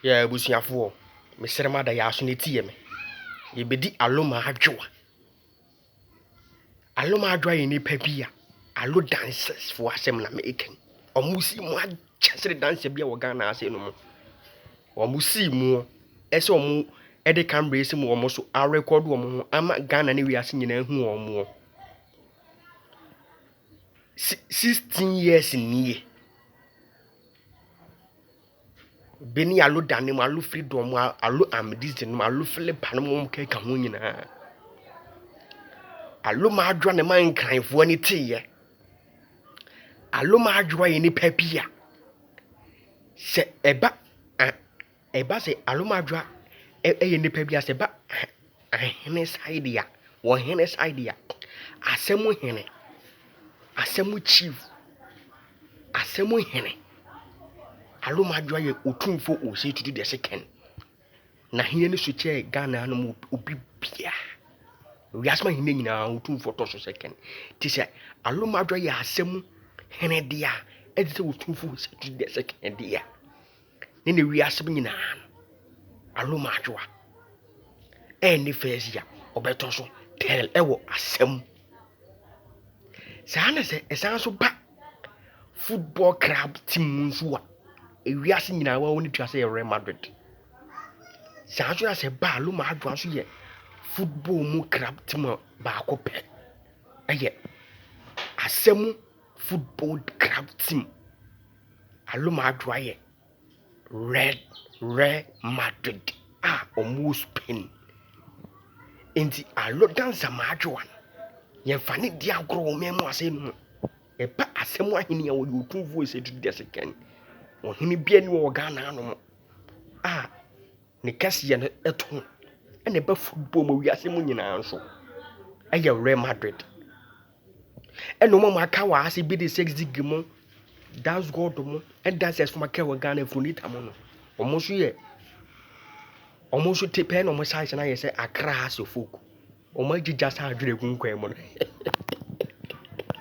Yɛ abusuafoɔ, mesrɛ mo ada yɛ aso na tie me. Yɛbɛdi Aloma Adwoa. Aloma Adwoa yɛ nipa bi a Alo dancers foɔ asɛm na meka yi. Wɔn si mu akyɛ sere dancer bi a wɔ Ghana ase no mu. Wɔn si mu ɛsɛ wɔn ɛde camera asi mu wɔn so arekɔdo wɔn ho ama Ghana ne wiase nyinaa hu wɔn mu. Sixteen years nie. Bɛn yi alo dane mu alo fridɔm mu alo amedizi nom alo filipa nom wɔn keka ho nyinaa. Alo m'adwoa ne m'ankranfoɔ ani teeɛ. Alo m'adwoa yɛ nipa bi a sɛ ɛba a ɛba sɛ alo m'adwoa ɛyɛ nipa bi a sɛ ɛba Ahene Saideɛ, Ɔhene Saideɛ, Asɛm Hene, Asɛm Chief, Asɛm Hene, Alomadwoa yɛ otumfo ositidi deɛ se kɛn. Na hene no so kyɛ Ghana no mu obi bia. Wiase ma hene nyinaa otumfo tɔ so sɛ kɛn. Ti sɛ Alomadwoa yɛ asɛm hene deɛ a ɛde sɛ otumfo ositidi deɛ se kɛn deɛ. ne ne wiase bi nyinaa no aroma adwoa ɛne fɛsia ɔbɛtɔ so tɛl ɛwɔ asɛm saa na sɛ ɛsan so ba football club team mu nso a ewiase nyinaa wɔn ne tua sɛ yɛ real madrid saa nso na sɛ ba aroma adwoa nso yɛ football mu club team baako pɛ ɛyɛ asɛm football club team. Aloma adwoa yɛ red red madrid a wɔn wɔ spain nti alo dansa ma adwoa no yɛn fa ne di agorɔ wɔn mɛn mu asɛm mu ɛba asɛm ahene a wɔyɛ otu voice etu di ɛsɛ kɛn ɔhene bia ni wɔ ghana ano mo a ne kɛse yɛ no ɛto no ɛna ɛba football mu wiase mu nyinaa nso ɛyɛ red madrid. Ɛna ɔma aka wɔ ase bi de sex zigi mo, dance god mo, ɛda sɛ ɛsoma kɛ wɔ Ghana funita mo no. Wɔn nso yɛ wɔn nso te pɛɛ na wɔn size no ayɛ sɛ Accra ase folk. Wɔn agyigya saa adwene gu nkwan mu no.